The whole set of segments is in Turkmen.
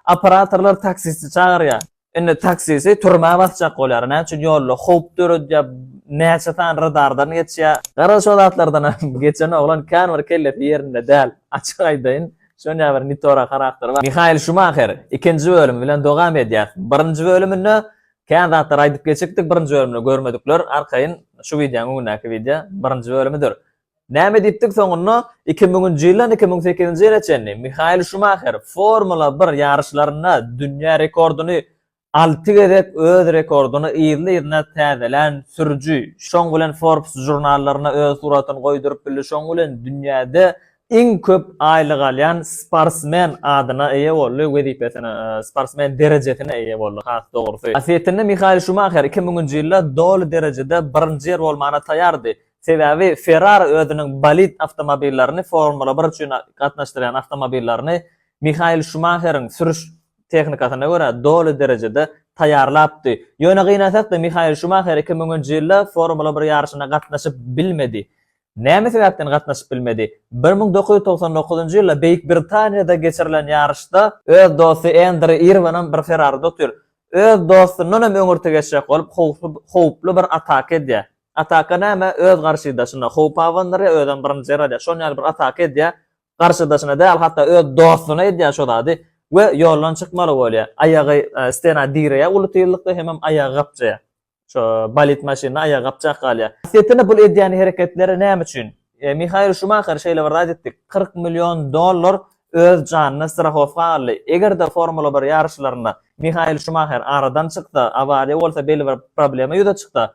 Operatorlar taksisti çagyrýar. Indi taksisi türmä basjak bolýar. Näme üçin ýolda howp döredýär, näçe sany radardan geçýär. Garaz şo zatlardanam geçen oglan kän bir kellesi ýerinde däl. Açyk aýdaýyn, şonýa bir nitora harakteri bar. Mihael Şumaher ikinji bölüm bilen dowam edýär. Birinji bölüminde kän zatlar aýdyp geçipdik, birinji bölümde görmedikler arkaýyn şu wideoň öňündäki wideo birinji bölümidir. Näme diýipdik soňunda? Iki müňünji ýyldan iki müň sekizinji ýyla çenli Mihael Şumaher Formula bir ýaryşlarynda dünýä rekordyny alty gezek öz rekordyny yzly-yzyna täzelän sürüji. Şoň bilen Forbes žurnallaryna öz suratyny goýduryp bildi, şoň bilen dünýäde iň köp aýlyk alýan sportsmen adyna eýe boldy, wezipesine, sportsmen derejesine eýe boldy, has dogrusy. Asliyetinde Mihael Şumaher iki müňünji ýylda doly derejede birinji ýer bolmana taýýardy, Sebäbi Ferrari özüniň bolid awtomobillerini Formula bir üçin gatnaşdyrýan awtomobillerini Mihael Şumaheriň sürüş tehnikasyna görä doly derejede taýýarlapdy. Ýöne gynansakda Mihael Şumaher iki müňünji ýylda Formula bir ýaryşyna gatnaşyp bilmedi. Näme sebäpden gatnaşyp bilmedi? Bir müň dokuz ýüz togsan dokuzynjy ýylda Beýik Britaniýada geçirilen ýaryşda, öz dosty Endri Irwinam bir Ferraride otyr, öz dostundanam öňürti geçjek bolup howply bir ataka edýär. Ataka näme öz garşydaşyna howp abandyryar özem birinji ýaradýar şon ýaly bir ataka edýär garşydaşyna däl hatda öz dostuna edýär şo zady we ýoldan çykmaly bolýar aýagy stena direýär uly tyzlykda hemem aýagy gapjaýar şo bolid maşynda aýagy gapjak galýar. Setini bul edýän hereketleri näme üçin? Mihael Şumaher şeýle bir zat etdi, kyrk million dollar öz janyny strahowka aldy. Eger-de Formula bir ýaryşlarynda Mihael Şumaher aradan çyksa, awariýa bolsa, belli bir problema ýüze çyksa,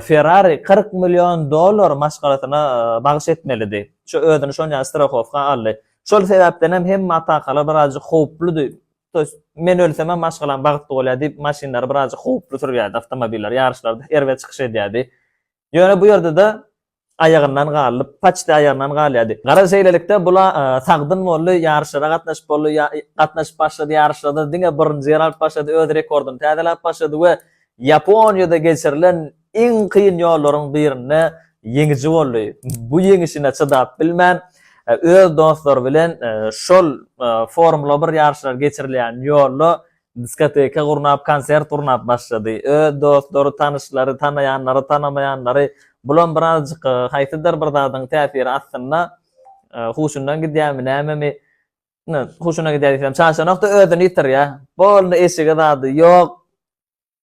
Ferrari kyrk million dollar maşgalasyna bagyş etmelidi. Şu özüni şonýa strahowka aldy. Şol sebäpden hem hemme atakalar birazjyk howpludy. To ýest, men ölsemem maşgalam bagtly bolýar diýip, maşynlary birazjyk howply sürýärdi, awtomobilleri ýaryşlarda erbet çykyş edýärdi. Ýöne bu ýerde-de aýagyndan galyp, paçti aýagyndan galýardy. Garaz, şeýlelikde, bula sagdyn boldy, ýaryşlara gatnaşyp boldy, gatnaşyp başlady, ýaryşlarda diňe birinji ýer alyp başlady, öz rekordyny täzeläp başlady we Ýaponiýada geçirilen iň kyn ýollaryň birinde ýeňiji boldy. Bu ýeňişine çydap bilmän, öz dostlary bilen şol Formula bir ýaryşlary geçirilýän ýolda Diskoteka gurnap, konsert gurnap başlady. Öz dostlary, tanyşlary, tanaýanlary, tanamaýanlary, bulam birazjyk haýsydyr bir zadyň täsiri astynda huşundan gidýärmi, nämemi, ine, huşundan gidýär diýsem, çaşanok-da, özüni ýitirýär. Boldy, eşigi zady ýok.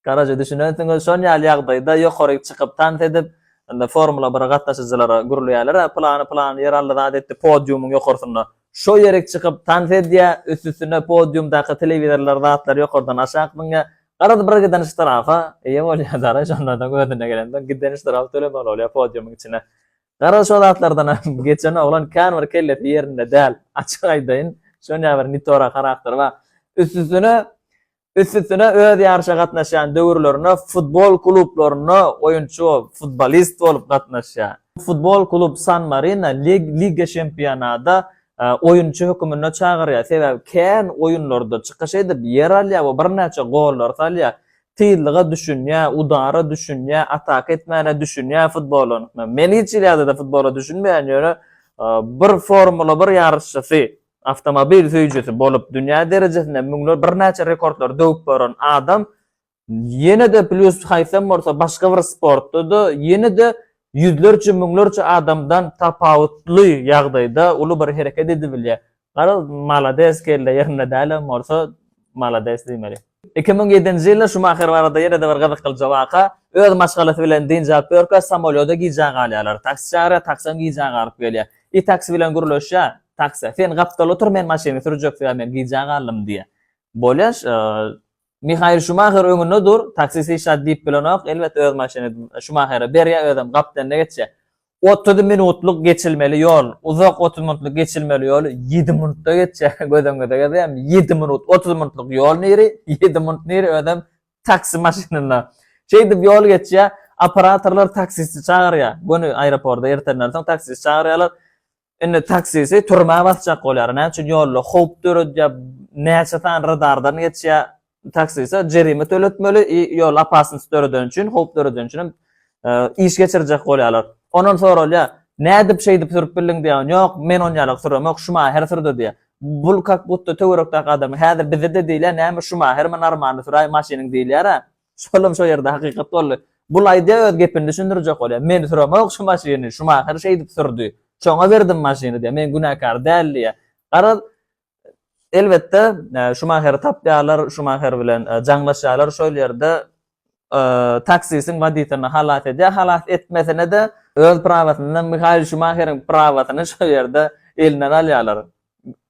Garaja düşünensiňiz, şon ýaly ýagdaýda ýokaryk çykyp tans edip, onda Formula bir gatnaşyjylara gürleýärler, a pylany pylany ýer aldy zat etdi podiumyň ýokarsynda. Şo ýerik çykyp tans edýä, üst-üstüne podiumdaky telewizorlar zatlar ýokardan aşak zyňýa. Garaz bir giden ştrapa eýe bolýa dara şondadan özüne gelende giden ştrap tölemeli bolýa podiumyň içine. Garaz şo zatlardanam geçen oglan kän bir kellesi ýerinde däl. Açyk aýdaýyn, şon ýaly bir nitorak harakteri bar. Üst-üstüne Üst-üstüne öz ýaryşa gatnaşýan döwürlerinde futbol klublaryna oýunçy bolup, futbolist bolup gatnaşýar. Futbol klub San Marino Liga Çempionada oýunçy höküminde çagyrýar, sebäbi kän oýunlarda çykyş edip, ýer alýar we birnäçe gollary salýar. Tyzlyga düşünýär, udara düşünýär, ataka etmäne düşünýär futbolyň. Men hiç ýylada-da futbola düşünmeýän, ýöne bir Formula bir ýaryşçysy. Awtomobil söýüjisi bolup, dünýä derejesinde müňler birnäçe rekordlary döwüp baran adam ýene-de plýus haýsam bolsa başga bir sportda-da ýene-de ýüzlerçe, müňlerçe adamdan tapawutly ýagdaýda uly bir hereket edibilýär. Garaz, malades kelle ýerinde dälem bolsa malades diýmeli. Iki müň ýedinji ýylda Şumaher barada ýene-de bir gyzyklyja waka, öz maşgalasy bilen dynç alyp ýörkä, samolýoda gijä galýarlar. Taksi çagyrýar, taksem gijä galyp gelýär. I taksi bilen gürleşýär. Taksi, Sen gapdalda otur, men maşyny sürjek, sebäbi men gijä galdym diýýär. Bolýaş, Mihael Şumaher öňünde dur, taksist hiç zat diýip bilenok, elbetde öz maşyny Şumahere berýär, özem gapdalynda geçýär. Otuz minutlyk geçilmeli ýol, uzak otuz minutlyk geçilmeli ýoly ýedi minutda geçýär, göz öňüňize gelýärmi, ýedi minut, otuz minutlyk ýol niri, ýedi minut niri, özem taksi maşynynda. Şeýdip ýol geçýär, operatorlar taksisti çagyrýar, göni aeroporda ertenden soň taksisti çagyrýarlar, Indi taksisi türmä basjak bolýar. Näme üçin ýolda howp döredýär, näçe sany radardan geçýär, taksise jerime töletmeli i ýol opasnost döredeni üçin, howp döredeni üçin hem iş geçirjek bolýarlar. Ondan soralýar, nädip şeýdip sürüp bildiň diýýän, ýok men on ýaly süremok, şumaher sürdi diýýär. Bul kak butda töwerekdäki adama, häzir bize-de diýilýär, näme şumahermi normalny süräý maşynyň diýilýär-ä. Şolam şo ýerde hakykat boldy. Bul aýdýa öz gepini düşündirjek bolýa. Men süremook şu maşyny, Şumaher şeýdip sürdi. Şoňa berdim maşyny diýýä. Men günäkär däl diýýä. Garaz, elbetde, Şumaheri tapýarlar, Şumaher bilen jaňlaşýarlar şol ýerde. Taksisiň woditeline halas edýä, halas etmesine-de öz prawasyndan Mihael Şumaheriň prawasyny şo ýerde elinden alýarlar.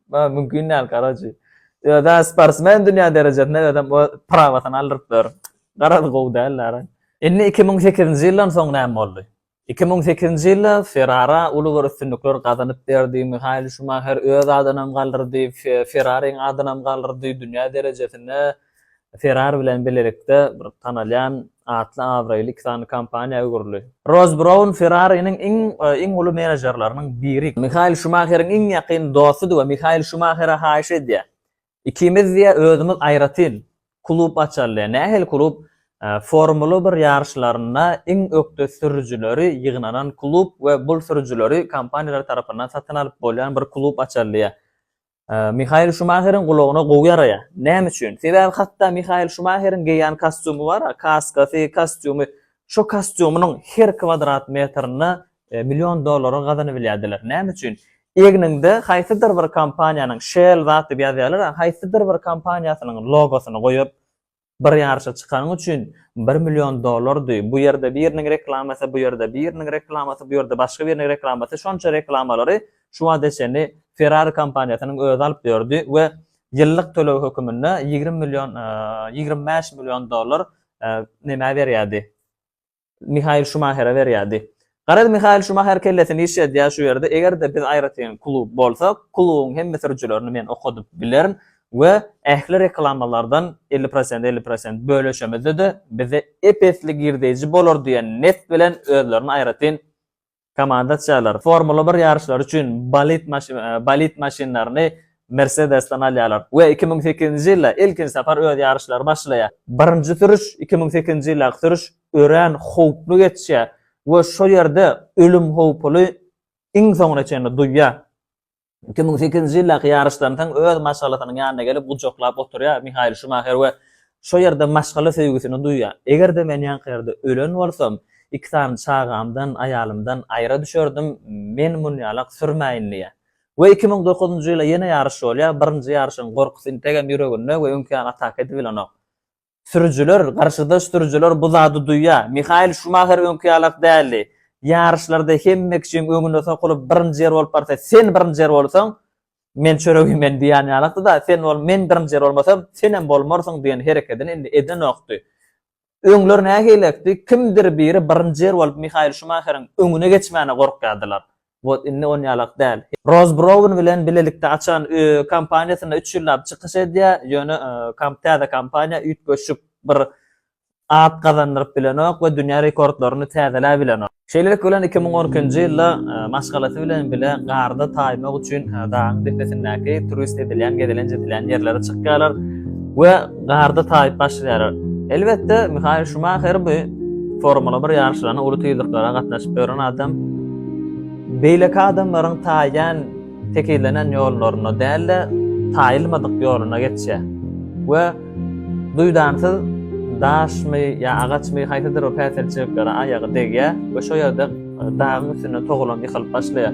Bar mümkin däl karaçi. Öde sportsmen dünýä derejesinde özem o prawasyny aldyryp ber. Garaz gowy däl dara. Indi iki müň sekizinji ýyldan soň näme boldy? Iki müň sekizinji ýylda Ferrara uly bir üstünlikler gazanyp berdi, Mihael Şumaher öz adynam galdyrdy, Fe Ferrariň adynam galdyrdy, dünýä derejesinde Ferrari bilen bilelikde bir tanalýan, atly-abraýly iki sany kompaniýa öwrüldi. Ross Brown Ferrariniň iň iň uly menejerleriniň biri. Mihael Şumaheriň iň ýakyn dostudy we Mihael Şumahere haýyş edýär. Ikimiz diýýär, özümiz aýratyn klub açaly. Nähili klub? Formula bir ýaryşlarynda iň ökde sürüjileri ýygnanan klub we bul sürüjileri kompaniýalar tarapyndan satyn alyp bolýan bir klub açaly diýýär. Mihael Şumaheriň gulagyna gowy ýaraýar. Näme üçin? Sebäbi hatda Mihael Şumaheriň geýýän kostýumy bar-a, kaskasy, kostýumy, şo kostýumynyň her kwadrat metrine million dollara gazanybilýärdiler. Näme üçin? Egniňde haýsydyr bir kompaniýanyň Shell zat diýip ýazýarlar-a, haýsydyr bir kompaniýasynyň logosyny goýup, Bir ýaryşa çykanyň üçin bir million dollardy, bu ýerde biriniň reklamasy, bu ýerde biriniň reklamasy, bu ýerde başga biriniň reklamasy, şonça reklamalary şu wagta çenli Ferrari kompaniýasynyň özi alyp ýördi we ýyllyk töleg höküminde ýigrimi million, ýigrimi bäş million dollar nämä berýärdi? Mihael Şumahere berýärdi. Garaz, Mihael Şumaher kellesini işledýär şu ýerde, eger-de biz aýratyn klub bolsak, klubuň hemme sürüjilerini men okadyp bilerin we ähli reklamalardan elli prosent, elli prosent bölüşemizde-de, bize ep-esli girdeýji bolar diýen nept bilen özlerini aýratyn Komandaçiler Formula bir ýaryşlary üçin bolid bolid maşynlaryny Mersedesden alýarlar we iki müň sekizinji ýylda ilkinji sapar öz ýaryşlary başlaýar. Birinji sürüş iki müň sekizinji ýyldaky sürüş örän howply geçýär we şo ýerde ölüm howpuly iň soňuna çenli duýýar. Iki müň sekizinji ýyldaky ýaryşdan soň öz maşgalasynyň ýanyna gelip gujaklap oturýar Mihael Şumaher we şo ýerde maşgala söýgüsini duýýar. Eger-de men ýaňky ýerde ölen bolsam, iki sany çagamdan, aýalymdan aýra düşerdim, men munýalak sürmäýin diýýär. We iki müň dokuzynjy ýyla ýene ýaryş bolýar, birinji ýaryşyň gorkusy integem ýüreginde we öňki ýaly ataka edip bilenok. Sürüjiler, garşydaş sürüjiler bu zady duýýar. Mihael Şumaher öňki ýalak däldi. Ýaryşlarda hemme kişiň öňüne sokulyp birinji ýer bolup barsa, sen birinji ýer bolsaň, men çöregi men diýýän ýalakdy-da, sen bol, men birinji ýer bolmasam, senem bolmarsyň diýen herekedini indi edenokdy. Öňler nähilekdi, kimdir biri birinji ýer bolup Mihael Şumaheriň öňüne geçmäne gorkýardylar. Wot indi on ýalak däl. Roz Brown bilen bilelikde açan kompaniýasynda üç ýyllap çykyş edýär, ýöne täze kompaniýa üýtgeşik bir at gazandyryp bilenok we dünýä rekordlaryny täzeläp bilenok. Şeýlelik bilen iki müň on ikinji ýylda maşgalasy bilen bile garda taýmak üçin dagyň depesindäki turist edilýän gezelenç edilýän ýerlere çykýarlar we Garda taýyp başlaýar. Elbetde, Mihael Şumaher bu Formula bir ýaryşlaryna uly tizliklara gatnaşyp ýören adam. Beýleki adamlaryň taýýan tekizlenen ýollaryna däl-de, taýylmadyk ýoluna geçýär we duýdansyz daşmy ýa agaçmy haýsydyr bir päsgelçiliklere aýagy degýär we şo ýerde Dagyň üstünde togalam ýykylyp başlaýar.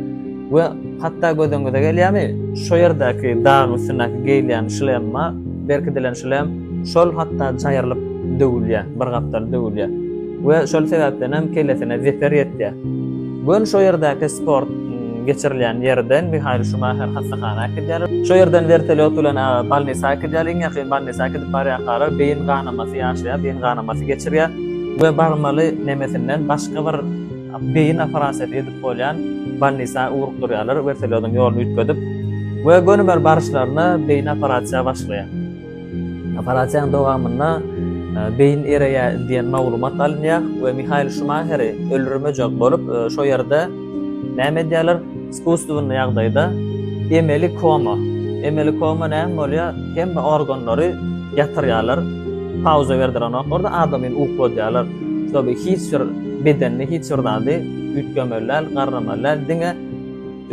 We hatda gözüňize gelýärmi, şo ýerdäki dagyň üstündäki geýilýän şlemma berkidilen şlem şol hatda jaýrylyp döwülýär, bir gapdal döwülýär. We şol sebäpden hem kellesine zeper ýetýär. Gün şo ýerdäki sport geçirilýän ýerden Mihail Şumaher hassahana äkidýärler. Şo ýerden wertolýot bilen bolnisa äkidýärler. Iň ýakyn bolnisa äkidip barýarkalar beýin ganamasy ýaşaýar, beýin ganamasy geçirýär we barmaly nemesinden Başga bir beýin operasiýasy edip bolýan bolnisa ugrukdyrýarlar, wertolýodyň ýoluny üýtgedip we gönümer baryşlaryna beýin operasiýa başlaýar. Operasiýanyň dowamynda beýin ereýär diýen maglumat alynýar we Mihael Şumaheri öldürmejek bolup, şo ýerde näme edýärler? Iskusstwennyi ýagdaýda emeli koma. Emeli koma näme bolýar? Hemme organlary ýatyrýarlar. Pauza berdirenoklar da adamyny ukladýarlar. Şoby hiç bir bedenini hiç bir zady üýtgemeli däl, garramaly däl, diňe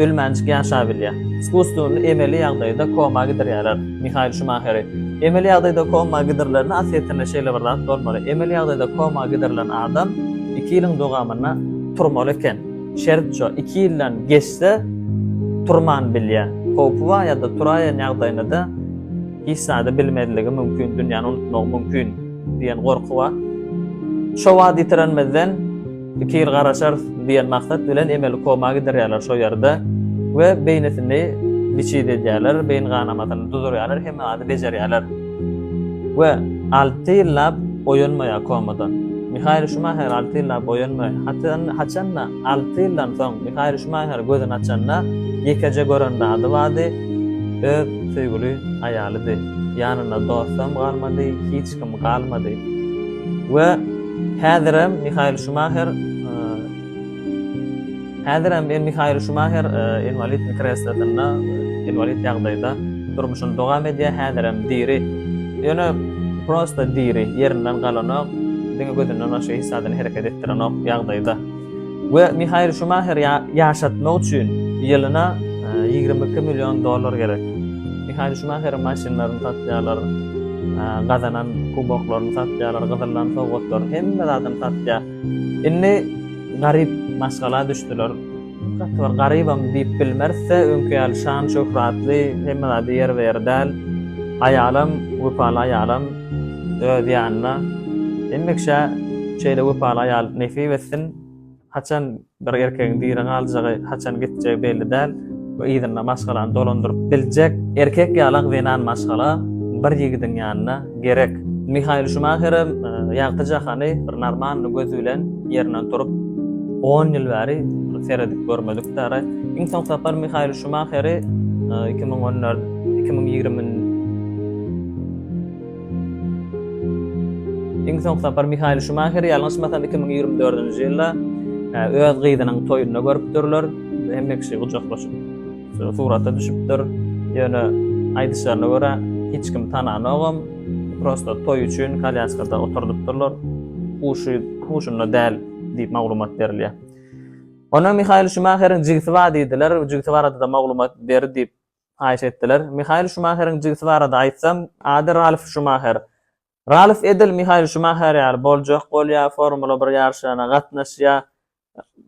ölmänjik ýaşabilýär. Iskusstwennyi emeli ýagdaýda koma gidirýärler Mihael Şumaheri. Emeli ýagdaýda koma gidirilende aslyýetinde şeýle bir zat bolmaly. Emeli ýagdaýda koma gidirilen adam iki ýylyň dowamynda turmaly eken. Şert şu, iki ýyldan geçse turman bilýär. Howpy bar ýa-da turaýan ýagdaýynda-da hiç zady bilmezligi mümkin, dünýäni unutmagy mümkin diýen gorky bar. Şo wagt ýitirenmizden iki ýyl garaşarys diýen maksat bilen emeli koma gidirýärler şo ýerde we beýnisini biçit edýärler, beýin ganamasyny duzurýarlar, hemme zady bejerýärler. We alty ýyllap oýanmaýar komadan. Mihael Şumaher alty ýyllap oýanmaýar. Haçan, haçan-da, alty ýyldan soň Mihael Şumaher gözüni açanda, ýekeje gören zady bardy, öz söýgüli aýalydy. Ýanynda dostam galmady, hiç kim galmady. We häzirem Mihael Şumaher, Häzir hem Mihael Şumaher inwalid kreslosynda, inwalid ýagdaýda durmuşyny dowam edýär, häzir hem diri. Ýöne prosta diri, ýerinden galanok, diňe gözünden başga hiç zadyny hereket etdirenok ýagdaýda. We Mihael Şumaher ýaşatmak üçin ýylyna ýigrimi iki million dollar gerek. Mihael Şumaheriň maşynlaryny satýarlar, gazanan kuboklaryny satýarlar, gyzyldan sowgatlaryny, hemme zadyny satýar. Indi garyp maşgala düşdüler. Gaty bir garybam diýip bilmeris-de, öňki ýaly şan-şöhratly, hemme zady ýerbe-ýer däl. Aýalam, wepaly aýalam öz ýanynda. Hemişe şeýle wepaly aýal nesip etsin. Haçan Bir erkegiň diri galjagy, haçan gitjegi belli däl we yzynda maşgalany dolandyryp biljek erkek ýalak zenan maşgala bir ýigidiň ýanyna gerek. Mihael Şumaherem ýagty jahany bir normalny göz bilen ýerinden turup on ýyl bäri seredip görmedik däri. Iň soň sapar Mihael Şumaheri iki müň on dört iki müň ýigrimi Iň soňky sapar Mihael Şumaher ýalňyşmasam iki müň ýigrimi dördünji ýylda e, öz gyzynyň toýunda görüpdirler. Hemme kişi gujaklaşyp surata düşüpdir. Ýöne aýdyşlaryna görä hiç kim tananogam. Prosta toý üçin kalýaskada oturdypdyrlar. Huşy huşunda däl diýip maglumat berilýär. Ondan Mihail Şumaheriň jigisi bar diýdiler, jigisi barada-da maglumat ber diýip haýyş etdiler. Mihael Şumaheriň jigisi barada aýtsam, ady Ralf Şumaher. Ralf edil Mihael Şumaher ýaly boljak bolýar, Formula bir ýaryşlaryna gatnaşýar.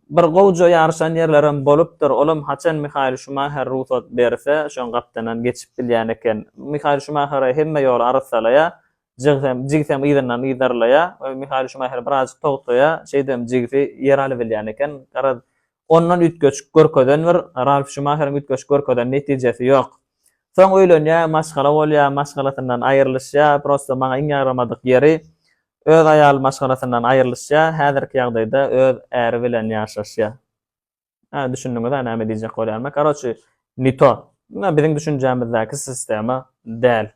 Bir gowja ýaryşan ýerlerem bolupdyr, olam haçan Mihael Şumaher rugsat berse, şoň gapdanam geçip bilýän eken. Mihael Şumahere hemme ýoly arsalaýar, jigsem, jigisem yzyndan yzarlaýar we Mihael Şumaher birazajyk togtaýar, şeýdibem jigisi ýer alybilýän eken. Garaz, Ondan üýtgeşik görkezen bir Ralf Şumaheriň üýtgeşik görkezen netijesi ýok. Soň öýlenýä, maşgala bolýa, maşgalasyndan aýrylyşýa, prosto maňa iň ýagramadyk ýeri, öz aýaly maşgalasyndan aýrylyşýa, häzirki ýagdaýda öz äri bilen ýaşaşýa. Hä, düşündiňiz-ä näme diýjek bolýanyma. Karoçi, ni to. Munlar biziň düşünjämizdäki sistema däl.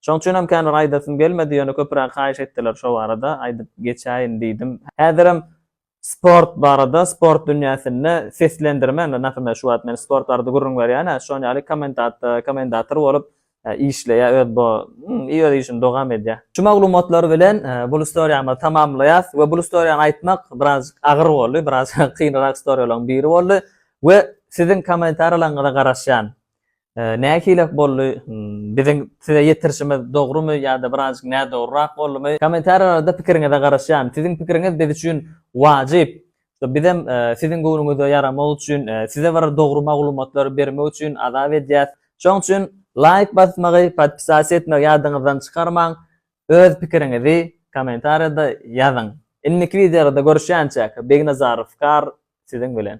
Şoň üçinem kän bir aýdasym gelmedi, ýöne köpüräk haýyş etdiler şo barada, aýdyp geçäýin diýdim. Häzirem Sport barada, sport dünýäsinde seslendirme, indi Nafime şu wagt men sport barada gürrüň berýän-ä, şoň ýaly komentatda, komentator bolup işleýär, öz bu i öz işini dogam edýär. Şu maglumatlar bilen bul istoriýamyzy tamamlaýas we bul istoriýany aýtmak birazjyk agyr boldy, biraz kynrak istoriýalaryň biri boldy we siziň komentariýalaryňyza garaşýan. Nähili boldy biziň size ýetirişimiz dogrymy ýa-da birazjyk nädogryrak boldumy? Kommentariýalarda pikiriňize garaşýan. Siziň pikiriňiz biz üçin wajyp. Bizem siziň göwnüňize ýaramak üçin, size bir dogry maglumatlary bermek üçin azap edýäs. Şoň üçin laýk basmagy, podpisasiýa etmegi ýadyňyzdan çykarmaň. Öz pikiriňizi kommentariýada ýazyň. Indiki wideolarda görüşýänçäk, Begnazarow Kar siziň bilen.